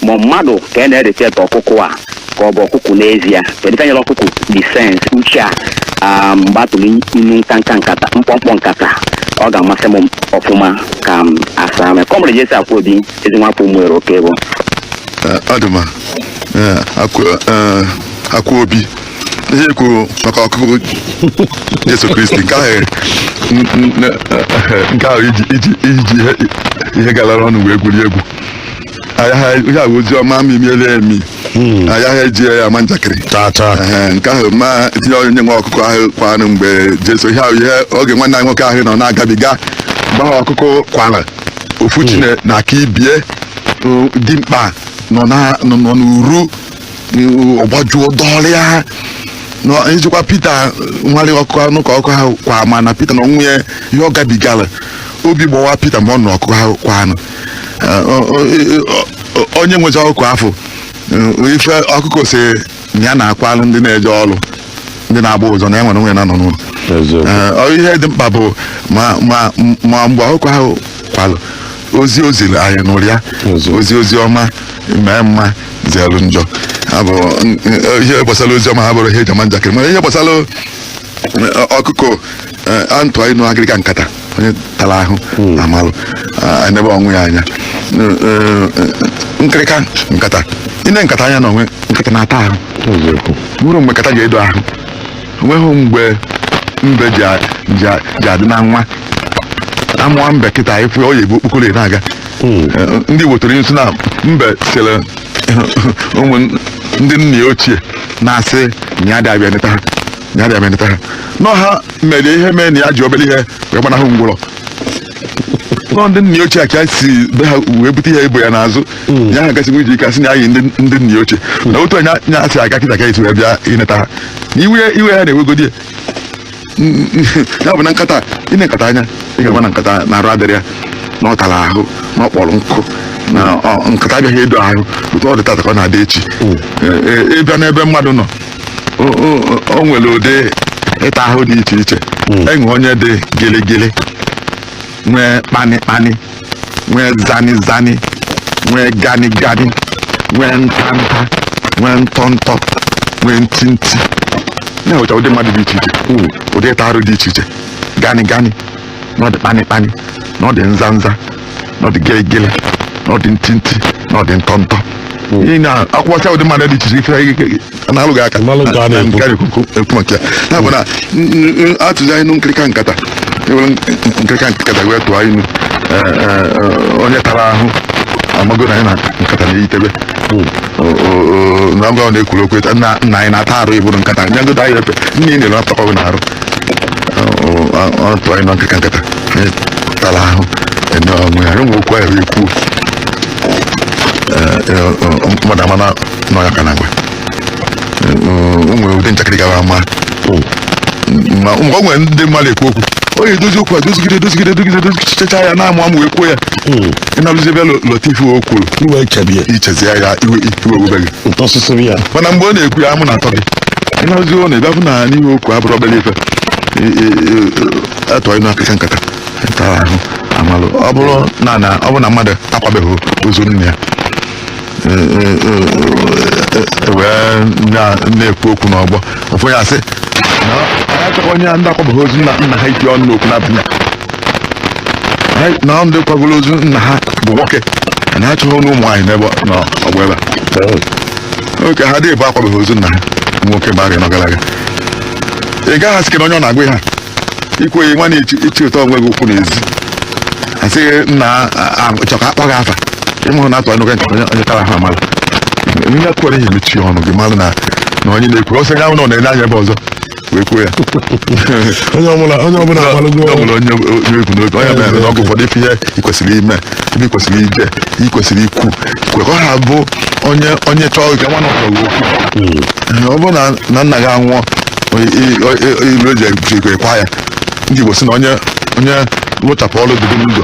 ma mmadụ ka a na-erelate ọkụkụ a ka ọ bụ ọkụkụ n'ezie kedu ife nyere ọkụkụ this sense uche a ah, mgbe atụrụ inu nkanka nkata mkpọmkpọ nkata ọ ga-amasị m ọfụma ka m asa mee comrade JC Akwuobi ezi nwafọ Ụmụeri Okebo Eh, ọ dị mma Eh, akwa- eh, Akwuobi ihe i kwuru maka ọkụkụ jesu kristi nke ahụ n- n- n- eh, nke ahụ iji iji iji ihe ihe galara ọnụ wee gwuri egwu ayaghị ihe a bụ ozi ọma miere emi ayaghị eji ya ama njakịrị tata Ehe, nke ahụ ma tinye onye nwe ọkụkọ ahụ kwarụ mgbe jesu ihe ahụ ihe oge nwanne anyị nwoke ahụ nọ na-agabiga gbaa ọkụkọ kwara ofu chi na-aka ibe ya o, dimkpa nọ na- nọ nọ n'uru o, ọgbajuo dọrịa nọ- ijikwa pita nwale ọkụkọ anụ ka ọkụkọ ahụ kwaa mana pita na onwe ya ihe ọ gabigara obi gbawa pita mgbe ọ nụ ọkụkọ ahụ kwa anụ Eh, o- o- o- onye nwezi ọkụkọ ahụ eh, ife ọkụkọ si na ya na-akwalụ ndị na-eje ọrụ ndị na-agba ụzọ na ya nwere onwe ya na-anọ n'ụlọ eziokwu Ee, ọ ihe dị mkpa bụ ma ma ma mgbe ọkụkọ ahụ kwalụ ozi o ziri anyị nụrụ ya Ozi. ozi ozi ọma mee mma zelu njọ Ha bụ n- n- ihe gbasara ozi ọma ha bụrụ ihe eji ama njakịrị mana ihe gbasara eh, ọkụkọ eh, atụa inu akịrịka nkata onye tara ahụ amalụ ah, enebe onwe ya anya Eh, eh, nkịrịka nkata ine nkata anya na o nwe nkata na-ata ahụ nwere mgbe nkata ji edo ahụ o nweghị mgbe mbe ji a- ji a- ji adị na nwa amụọ mbe kịta ị fụ ya ọ ya ebu okpokoro ya na-aga Eh, ndị wetara nso na mbe sịrị ụmụ ndị nna ya ochie na-asị na ya adị abịa eneta ha ya na emenịta ha na ọ ha mere ihe mee na ya ji obere ihe wee gbanahụ ngwụrọ na ọ ndị nna ochie a ka ya si be ha wee bute ihe e bo ya n'azụ ya ha gasịkwa iji ike asị na ya yi ndị ndị nna ochie na otu a nya nya si aga kịta ka e si wee bịa ịneta ha na iwe iwe ha na-ewegodi ya Mm, ya bụ na nkata ine nkata anya ị ga-agba na nkata na arụ adịrị ya na ọ tara ahụ na ọ kpọrọ nkụ na ọ- nkata abịaghị edo ahụ otu ọ dị tata ka ọ na-adị echi Ee, ee, ịbịa n'ebe mmadụ nọ o- o- o nwere ụdị ịta ahụ dị iche iche e nwee onye dị gịlịgịlị nwee kpani kpani nwee zani zani nwee gani gani nwee nta nta nwee ntọ ntọ nwee nti nti na-enwecha ụdị mmadụ dị iche iche ụdị ịta arụ dị iche iche gani gani na ọ dị kpanịkpanị na ọ dị nza nza na ọ dị gelegele na ọ dị ntị ntị na ọ dị ntọ ntọ ị na-akwụkwọcha ụdị mmadụ dị iche iche ife na-alụghị aka Mmalụ nke a na-ekwu. nke a na-ekwu ekwu maka ya ya bụ na n- n- n- atụzia inu nkirika nkata ewere nkirika nkata wee tụọ inu eh, eh, eh, onye tara ahụ amago na nya na nkata na-eyitebe O- o- o- na mgbe ọ na-ekwuru okwu etu, nna nna anyị na-ata arụ ịbụrụ nkata nyagodo anyị ife nine ị na-eri apụtakwa gị n'arụ ọ tụọ inu nkịrịka nkata tara ahụ ama onwe ya e nwe okwu ahụ ekwu mmadụ ama na ọ ya ka a na-agwa o nwere ụdị njakịrị gara ama ma o nwere ndị mmadụ ekwu okwu o yi edozi okwu a dozigide dozigide dozigide dozichicha ya na-amụ amụ wee kwuo ya ị naluzie be lote ife o kwuru i wee chebie i chezie ya iwe iwe ewebe ụtọ sụsụrụ ya mana mgbe ọ na-ekwu ya amụ na-atọ gị ị nazie ị na-abịa afụ na n'ihe o kwu abụrọ obere ife atụa inu akịka nkata tara ahụ amalụ ọ bụrụ na na ọ bụrụ na mmadụ akwabeghị ozu nna ya e- e- e- e- wee na- na-ekwu okwu n'ọgbọ ụfọdụ ya asị na anyị achọghị onye ndị akwabeghị ozu nna nna ha iti ọnụ n'okwu na-abịa Anyị na ndị kwagoro ozu nna ha bụ nwoke a na-achọghị ọnụ ụmụ nwaanyị n'ebe ọ- n'ọgbọ ebe a oke ha dịbụ akwabeghị ozu nna ha bụ nwoke mgbe arọ anọ gara aga ị gaghị asị na onye ọ na-agwa ha ikweghị nwa na-echi ichi ụtọ onwe gị okwu n'ezi a sị gị na achọ ka akpọ gị afa ịmụrụ na atụ anụ gị nkata onye- onye tara ha amalụ ihe kwere ihe mechie ọnụ gị malụ na na onye na-ekwu ọsọ ya ahụ na ọ na-ele anya ebe ọzọ wee kwuo ya onye ọbụla onye ọbụla agbalụgo ọ bụla onye na-ekwu n'oge onye mere na ọgụ ụfọdụ ife ihe ị kwesịrị ime ebe ị kwesịrị ije ị kwesịrị ikwu kwe ka ọ ha bụ onye onye chọọ ka nwa nọkọrọ okwu Ee, ọ bụrụ na na nna gị anwụọ ilu eji ekwa ya ndị Igbo si na onye onye wụchapụ ọrụ dịrị n'ụzọ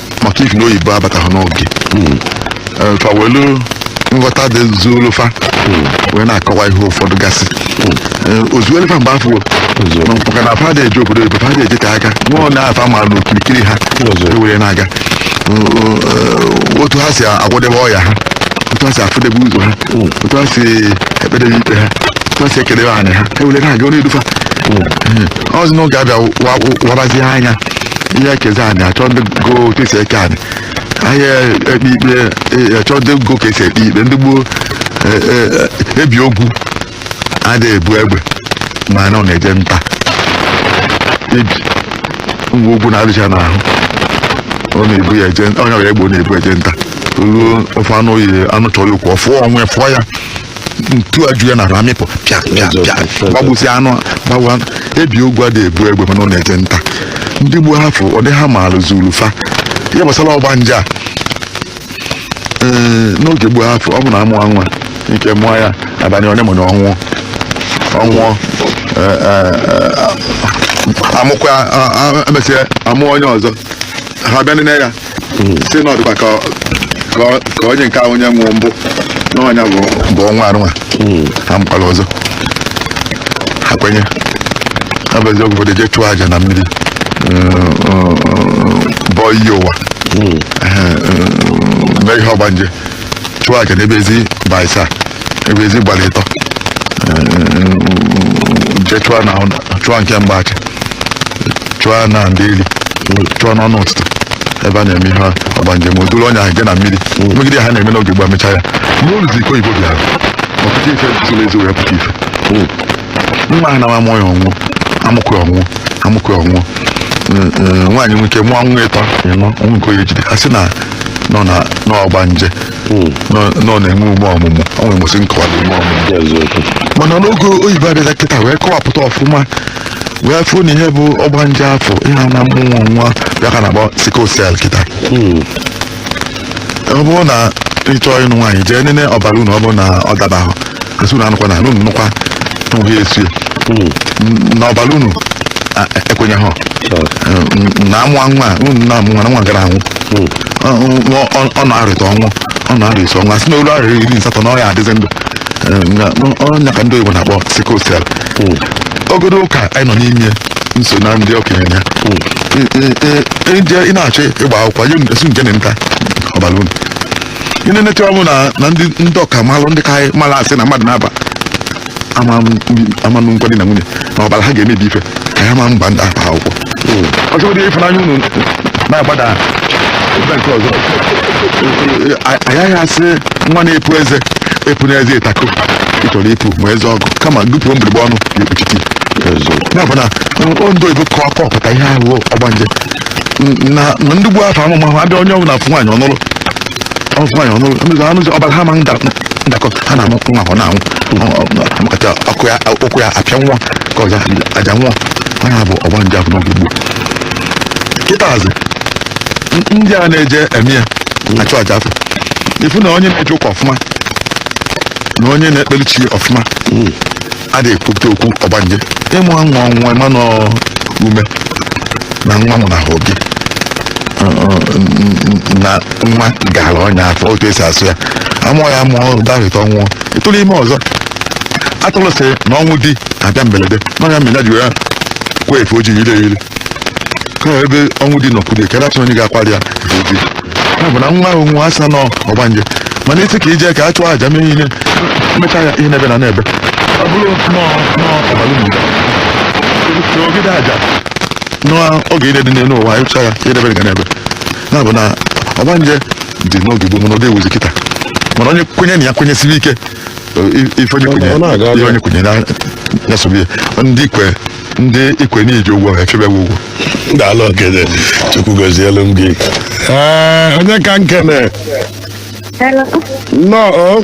maka ifi na oyibo abataghị n'oge Eh, fa welu nghọta dị zuru fa wee na-akọwa ihe ụfọdụ gasị Eh, o zuelu fa mgbe afụ na maka na fa adị eje obodo oyibo fa adị eje ka aka nwa onye afa ma n'okirikiri ha were na-aga Eh, otu ha si agwọdebe ọya ha otu ha si afụdebe ụzọ ha otu ha si ekpedebe ikpe ha otu ha si ekedebe anị ha were na-aga ọ na-edu fa oluzi n'oge a bịa wabazie anya ị ya-ekezi anị achọ ndị go otu esi eke anị a ya-ekpe ikpe eh, achọ ndị go ka esi ekpe ikpe ndị gboo eh, eh, ebi ogwu adịghị ebu egbe mana ọ na-eje nta ebi nwa ogwu na-adịcha n'ahụ ọ na-ebu ya eje o nwerọ ya egbe ọ na-ebu eje nta ruo ofe anụ oyi anụ chọrọ ya okwu ọ fụọ onwe fụọ ya ntu eju ya n'arụ amịpụ pịa pịa pịa gbagbusi anụ gbawa ebi ogwu adịghị ebu egbe mana ọ na-eje nta ndị gboo afụ ọ dị ha maara zuru fa ihe gbasara ọgbanje a ee n'oge gboo afụ ọ bụ na amụọ nwa nwike mụọ ya abalị olemole ọ nwụọ ọ nwụọ ee, ee, ee, amụkwa a- a- emesịa amụọ onye ọzọ ha bịa nene ya si na ọdịkwa ka ka- ka onye nke ahụ onye nwụrụ mbụ na ọ nya bụ bụ ọnwa arụnwa ha mụkwara ọzọ ha kwenye ọ bụ eziokwu ụfọdụ jee chụọ aja na mmiri bọọ iyi ụwa Ehe, eh, mee ihe ọgbanje chụọ aja n'ebe ezi gba isaa ebe ezi gbara ịtọ je chụọ na chụọ nke mgbachi chụọ na ndeli chụọ n'ọnụ ụtụtụ ebe a na-eme ihe ọgbanje o duru onye ahụ je na mmiri megide ihe a na-eme n'oge gboo mechaa ya mgbe oluzi ka oyibo bịara ọ pụta ife zoro ezo wee pụta ife nwa ahụ na-eme a mụọ ya ọ nwụọ amụkwa ọ nwụọ amụkwa ọ nwụọ nwaanyị nwike mụọ nwa ịtọ ịnọ o nwee nke ọ na-ejide a sị na nọ na n'ọgbanje nọ nọ na-enwe ume ọmụmụ o nwere mụsị nkọwa na ume ọmụmụ eziokwu mana n'oge oyibo abịazịa kịta wee kọwapụta ọfụma wee fụ na ihe bụ ọgbanje afụ ihe a na mmụnwụ nwa ya ka a na-akpọ sickle cell kịta ọ bụrụ na ị chọọ ịnụ nwaanyị jee nene ọbara unu ọ bụrụ na ọ dabahụ a sị unu anụkwana unu nụkwa n'ụhụ ya a sị na ọbara unu a- ekwenyeha na amụwa nwa a, unu na-amụ nwa na nwa gara anwụ Ọ- ọ- ọ- ọ na-arịta ọnwụ ọ na-arịa isi ọnwụ a sị na o lu arọ iri na asatọ na ọ ya-adịzi ndụ Eh, na- ọ ya ka ndị oyibo na-akpọ sickle cell ogodo ụka anyị nọ n'ime nso na ndị okenye ya i je ị na-achọ ịgba akwụkwọ nye a sị unu je neneta ọbara unu i nenecha ọ bụ na na ndị ndị ọkamalụ ndị ka anyị mara a sị na mmadụ naabọ ama nụkwa di na nwunye na ọbara ha ga-emebi ife ka ya ma agba ndị a akwụkwọ ọ bụgodu ịfụnanya unu na-agbada ebe nke ọzọ agaghị a sị nwa na-epu eze epuna eze ịtako ị chọrọ ipu ma eze ọgụ kama gị puo mgbirigba ọnụ ga-ekpuchite ya bụ na ndị oyibo kọ- kọpụta ihe ahụ ọgbanje n- na na ndị gboo afụ amụma ha bịa onye ọbụla fụ nwaanyị ọ nụrụ ọ fụ nwaanyị ọ nụrụ ndị anụzi ọbara ha ma nda- ndakọ ha na-amụ nwa ọ na-anwụ Ọ- ọ- amakata ọkụ ya ụkwụ ya apịa nwa ka ọja aja nwa ha ya bụ ọgbanje afụ n'oge gboo kịtazi n- ndị a na-eje eme ya achụ aja afụ ị fụ na onye na-eje ụka ọfụma na onye na-ekpeli chi ọfụma adị ekwute okwu ọgbanje ịmụ nwa ọ nwụwa ị ma na ume na nwa mụ na ahụ gị na nwa gara ọnya afọ otu esi asụ ya a mụọ ya mụọ dahụta ọ nwụọ ị tụrụ ime ọzọ atụrụ sị na ọnwụ di abịa mberede na ọ ya mere ya ji wee kwa efe ojii ire ire ka ebe ọnwụ di nọkwude ka achọ onye ga-akwari ya efe ojii ya bụ na nwa ahụ nwa a sị na ọ ọgbanje mana a sị ka e je ka a chụọ aja mee ihe mechaa ya ihe n'ebe na n'ebe ọ bụrụ nọọ nọọ ọbalụ mgbe ogide aja n'oge ire dị n'elu ụwa ịchụ aja i debere ga n'ebe ya bụ na ọgbanje dị n'oge gboo mana ọ dịghịzi kịta mana onye kwenye na ya kwenyesibe ike ife onye kwenye ihe onye kwenye ya sobe ya ndị kwe ndị i kwe na i ji ụgwọ ha echebe gị ụgwọ daalụ okenye chukwu gozielu m gị onye ka m kene nnọọ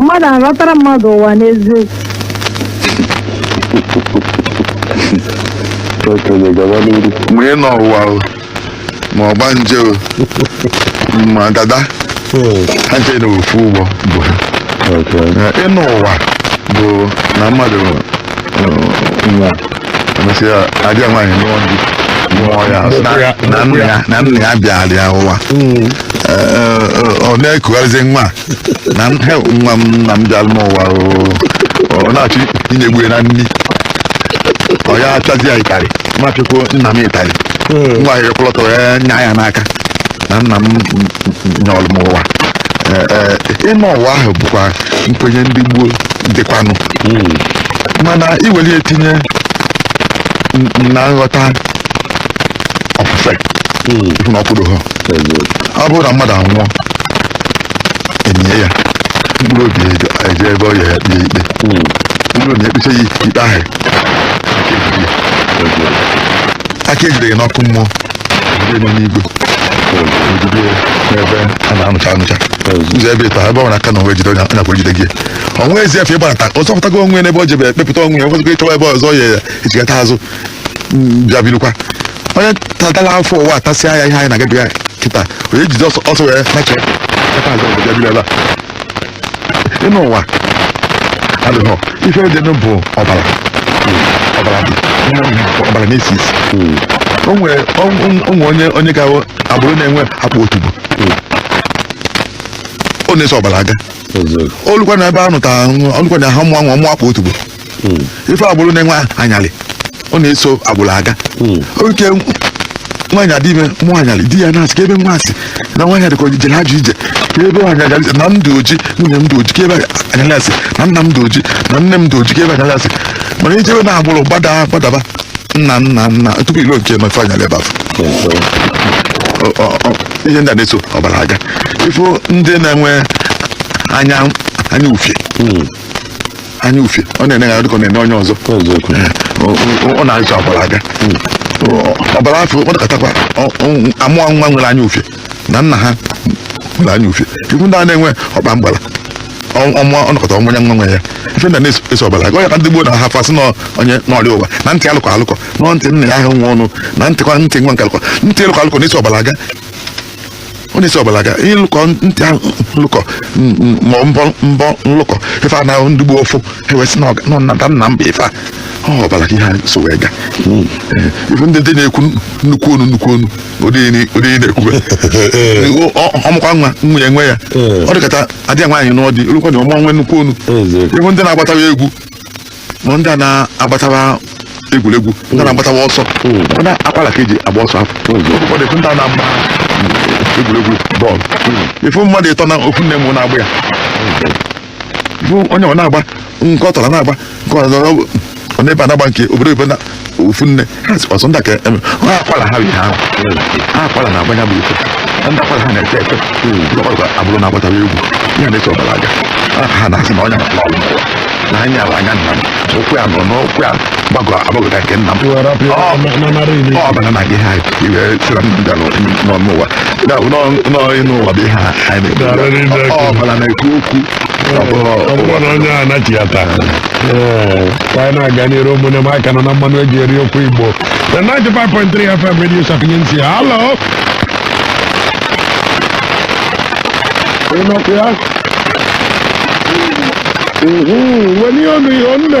mmadụ alọtara mmadụ ụwa n'eziokwu okenye gaba n'iru ma ịnọ ụwa o ma ọgbanje o ma dada ha ncha na ofu ụgbọ bu ha okenye Ee, ịnọ ụwa bụ na mmadụ nwa emesịa ada ya nwaanyị nụọ di mụọ ya sị na- na nna ya na nna ya bịara ya ụwa Mm. Ee, ee, ọ na-ekugharịzi nwa a. na m- he, nwa m nna m bịara m ụwa oo. ọ na-achọ inyegbu ya na nri ọ ya achazi ya ịtarị machụkwuo nna m ịtarị Mm. nwa ya ekwụlọtọrọ ya nya ya n'aka na nna m nyọrọ m ụwa Ee, ee, ịnọ ụwa ahụ bụkwa nkwenye ndị gboo dịkwanụ mana i were ya tinye n- na nghọta ofufe ị fụ na ọ kwụdohọ ọ bụrụ na mmadụ anwụọ enye ya mkpụrụ obi eje eje ebe ọ ya ya kpee ikpe o ru na ekpecha ya ikpe ahụ aka ejide ya n'ọkụ mmụọ ndị nọ n'igwe o jide n'ebe a na-anụcha anụcha ụzọ ebe ịtọ ebe ọ na-aka na onwe jide onye akwụrụ jide gị o nwezi efe ịgbanata ọ zọpụtago onwe ya n'ebe ọ jebe ekpepụta onwe ya nwezịgo ịchọwa ebe ọzọ ya echigata azụ m, bịa birukwa onye tatala afụfụ ụwa atasịa ya ihe anyị na-agabiga kịta onye jide ọsọ ọsọ wee nachigha azụ ọzọ bịa biri ebe a ịnọ ụwa adịghọ ife dịnụ bụ ọbara ọbara ọbara na-esi isi o nwere o nwe- o nwe onye onye ga-awụ agbụrụ na-enwe akpa otubo ọ na-eso ọbara aga eziokwu o lukwa na ebe a nụta o lukwa na ha mụọ nwa mụọ akpa otubo ife agbụrụ na-enwe anyalị ọ na-eso agbụrụ aga okay nwaanyị adị ime mụọ anyalị di ya na-asị kee ebe nwa a si na nwaanyị a dịka ọ jere ajọ ije kee ebe anyalị a si na m dị oji nwunye m dị oji kee ebe anyalị a si na nna m dị oji na nne m dị oji kee ebe anyalị a si mana i jebe na agbụrụ gbada gbadaba nna nna nna tupu i luo nke nọ ị fụ anyalị ebe afụ Ọ- ọ- ọ- ihe ndị a na-eso ọbara aga ị fụ ndị na-enwe anya anya ufie anya ufie ọ na-ene ya dịka ọ na-ene onye ọzọ eziokwu Eh, ọ- ọ- ọ na-eso ọbara aga Ọ- ọbara afụ ọ dịkatakwa ọ- ọ- amụọ nwa nwere anya ufie na nna ha nwere anya ufie ị fụ ndị a na-enwe ọkpa mgbara ọ- ọ mụọ ọ nọkata ọ mụnye nwa nwe ya ife na na-eso ọbara aga ọ ya ka ndị gboo na-afụ asị na onye nọrọ ya ụwa na ntị alụkọ alụkọ na ntị nna ya ahụ nwa ọnụ na ntịkwa ntị nwa nke alụkọ ntị alụkọ alụkọ na-eso ọbara aga ọ na-eso ọbara aga ịlụkọ ntị ahụ nlụkọ m- m- ma mbọ mbọ nlụkọ ife a na ndị gboo fụ e wee sị na ọga- na nnata nna mba ife a ọ ọbara ka ihe a so wee ga ị fụ ndị dị na-ekwu nnukwu onu nnukwu onu ụdị ihe ni- ụdị ihe na-ekwube Ọ- ọ- ọ mụkwa nwa nwe- nwe ya ọ dịkata ada ya nwaanyị nụọ di o lukwa na ọ mụọ nwe nnukwu onu Eziokwu. ị fụ ndị na-agbatawa egwu ma ndị a na-agbatawa egwuregwu ndị na-agbatawa ọsọ mana akwara ka eji agba ọsọ ahụ ụfọdụ ifu ndị a na-agba egwuregwu bọọlụ ifu mmadụ ịtọ na ofu nne mụ na-agba ya ifu onye ọ na-agba nke ọ tọrọ na-agba nke ọ nọrọ ọ na-ebe a na-agba nke obodo oyibo na ofu nne ha sikwa sọ ndị ka eme ha akwara ha bi ha ahụ ha akwara na agbanya bụ ife ndị akwara ha na-efe efe lọkwa abụrụ na agbatara egwu ya na-eso ọbara aga ha na-asị na ọnya na ọrụ n'ụwa na anya ala anya nna m ụkwụ ya nọ n'ụkwụ ya gbagọ agbagọta nke nna m ọbara na gị ha iwe sịra m bịa n'ọnụ ụwa n'ọnụ ụwa bụ ihe a anyị na-ekwu ọbara na-ekwu okwu ọ bụrụ na onye a nachi ya taa ee ka anyị na-aga n'iru ụmụnne m a ka nọ na mmanụ eji eri okwu igbo na 95.3 fm radio sapientia halo ị nọkwa ya Mhm, weli ọnụ ihe onne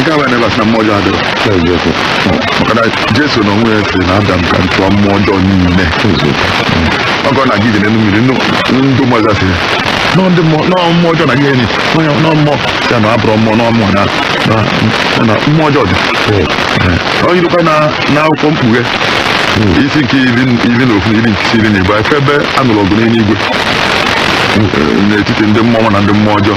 nke abụọ na ị bịa sị na mmụọ ọjọọ adịrọ eziokwu maka na jesu na onwe ya si n'afa m ka m chụọ mmụọ ọjọọ niile ọgọ na gidi n'elu mmiri nnu- ndụ mmụọ ọjọọ si ya nọ ndị mmụọ nọ mmụọ ọjọọ na gị enyi onye nọ mmụọ ya na abụrọ mmụọ nọ mmụọ na na- ya na mmụọ ọjọọ dị ọ yirikwa na na akwụkwọ mkpughe isi nke iri iri na ofu isi nke iri na ịbụọ efe ebe a nụrụ ọgụ n'eluigwe n'etiti ndị mmụọ ọma na ndị mmụọ ọjọọ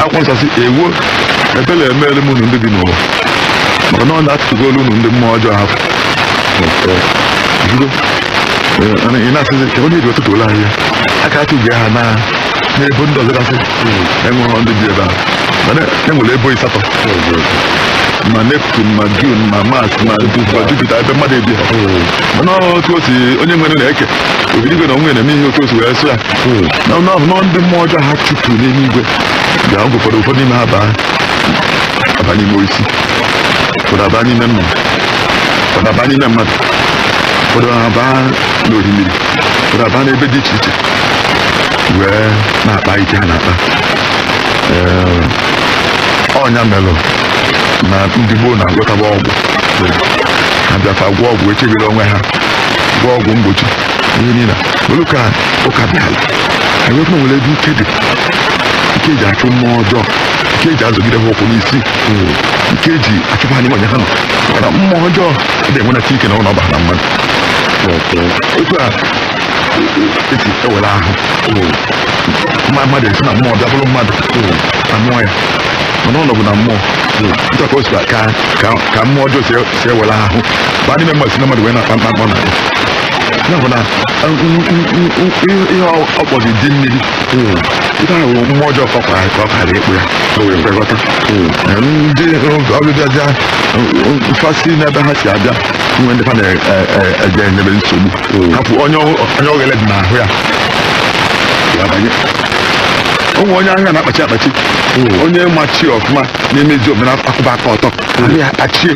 akwụkwọ nsọ si ewo ebere emeere m unu ndị bi n'ụwa maka na ọ na-atụtụgolu unu ndị mmụọ ọjọọ hapụ ị na-asịzi ka onye ji ọtụtụ ole ahịa aka atụghị ha n'ebo ndị ọzọ gasị enweghị ndị bi ebe ahụ mana enwere ebo ịsatọ ma neptune ma jun ma mars ma jupiter ebe mmadụ ebi mana otu o si onye nwere na-eke obinigwe na onwe na-eme ihe otu o si wee sọ ya na ọ na-abụ na ndị mmụọ ọjọọ ha chụpụrụ n'eluigwe ga ọ gụkwara ụfọdụ n'ime ha aba n'ime osisi ụfọdụ aba n'ime mma ụfọdụ aba n'ime mmadụ ụfọdụ aba n'orimiri ụfọdụ aba n'ebe dị iche iche wee na-akpa ike ha na-akpa Ee, ọ nya melụ na ndị gboo na-agwọtaba ọgwụ ha bịakwa gwọ ọgwụ chebere onwe ha gwọ ọgwụ mgbochi ihe niile olu ka ụka bịara anyị wepụ nwere ebe ike dị ike eji achụ mmụọ ọjọọ ike eji azọgide ha ụkwụ n'isi ike eji achụpụ anyị nwanye ha nọ mana mmụọ ọjọọ dị enwe na chike na ụlọ ọba na mmadụ otu a esi ewere ahụ mma mmadụ esi na mmụọ bịa bụrụ mmadụ amụọ ya mana ọ nọbụ na mmụọ nchọka o si ka ka mmụọ ọjọọ si si ewere ahụ ba n'ime mmadụ si na mmadụ wee na-akpa mkpamkpa na ya ya bụ na eh, n- n- n- n- ihe ihe ọ ọ kpọzi di mmiri ihe ahụ bụ mmụọ ọjọọ ka ọ kwara ka ọ kara ịkpọ ya o wee kwe nghọta Eh, ndị ọbịbịaja mfasi n'ebe ha si abịa nwe ndị ha na-eje enyebe nsogbu ha fụ onye ọ- onye oghere dị n'ahụ ya ya banye o nwee onye ahịa na-akpachi akpachi onye ma chi ọfụma na-emezi omenala akwụba aka ọtọ ahịa akpachie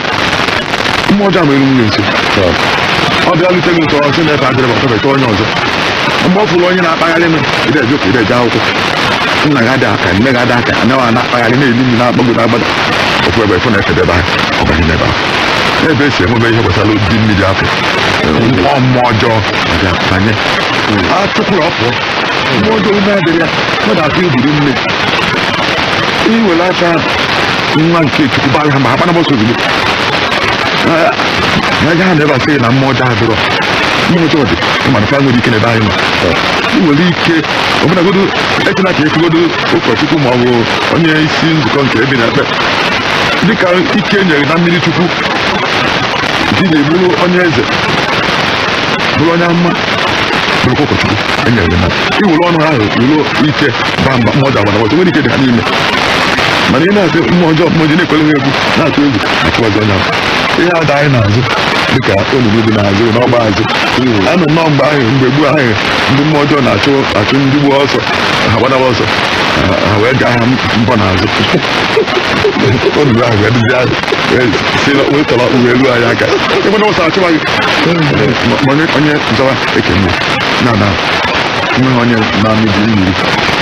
mmụọ ọjọọ mere nwunye nso ọ bịa lute m ụtọ ọ sị na efe adịrọ ma febeta onye ọzọ mgbe ọ fụrụ onye na-akpagharị m ị dị eje ụka ị dị eje akwụkwọ nna gị ada aka nne gị ada aka anaghị ana akpagharị na-eli nri na-agbago na-agbada ọ fụ ebe afụ na efe dị ebe ahụ ọ banye n'ebe ahụ ebe e si enwebe ihe gbasara di mmiri afụ mmụọ mmụọ ọjọọ bịa banye a chụpụrụ ọ pụọ mmụọ ọjọọ ume adịrọ ya mmadụ atụ iburu nne i were aha nwa nke chukwu bara ha mba ha gbanaba ọsọ ozugbo Ah, na agaghị na ebe asịghị na mmụọ ọjọọ adịrọ mmụọ ọjọọ dị mana fa enwerọ ike n'ebe anyị nọ i nwere ike ọbụnagodo echela ka ekwugodo ụkọchukwu ma ọ bụ onye isi nzukọ nke ebe ị na-ekpe dịka ike e nyere na mmiri chukwu ji na-abụrụ onye eze bụrụ onye amụma bụrụkwa ụkọchukwu enyere gị mmadụ i were ọnụ ahụ were ike baa mba mmụọ ọjọọ agbana ọsọ nwerọ ike dị ha n'ime mana ị na-asị mmụọ ọjọọ mmụọ ji na-ekwere ha egwu na-atụ egwu achụ ọjọọ na ihe ada anyị n'azụ dịka olulu dị n'azụ n'ọgba azụ anụ nnọọ mgbe ahụ mgbe gboo ahụ ndị mmụọ ọjọọ na-achụ achụ ndị gboo ọsọ ha gbadawa ọsọ ha- ha wee gaa ha mbọ n'azụ olulu ahụ wee dịzi azụ wee si na wee tọrọ uwe elu anyị aka ịgbana ọsọ achụwa gị Ma- ma onye onye zọwa ekene na na nweghị onye na-anụ di mmiri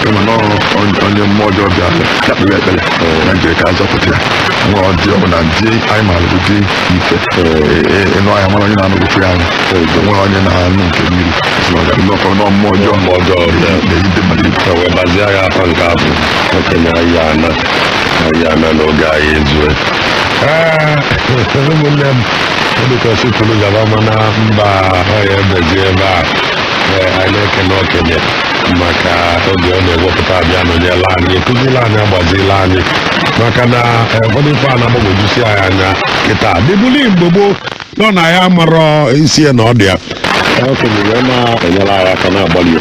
kama na ọ- onye- onye mmụọ ọjọọ bịa ya kpere ekpere ya jiri ka azọpụta ya nwa ọdị ọ bụla ndị anyị maara bụ di ite ịnụ anya mara onye na-anụ ofe anyị nweghị onye na-anụ nke mmiri nnọkọ nọ mmụọ ọjọọ mmụọ ọjọọ bịa na-eyide mmadụ ibe wee bazie ya afụ nke a bụ okenye anyị ana anyị ana na oge anyị ezue ụmụnne m ọ dịka asị kwuru gaba mana mba ọ ya ebezi ebe a Ee, anyị na-ekele okenye maka oge ọ na-ewepụta abịa nọnyela anyị ekụzila anyị agbazila anyị maka na eh, ụfọdụ ife a na-agbagwojusi anyị anya kịta dịbuli mgbe gboo nọ na anyị amarọ isi ya na ọdụ ya Ee, okenye wee na-enyere anyị aka na-agbalị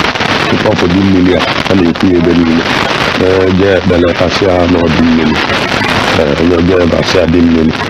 ịkọpụ di mmiri a a na-ekwu ya ebe niile Ee, jee ekpele ka asị ya na ọ di mmiri Ee, onye jee eba asị ya di mmiri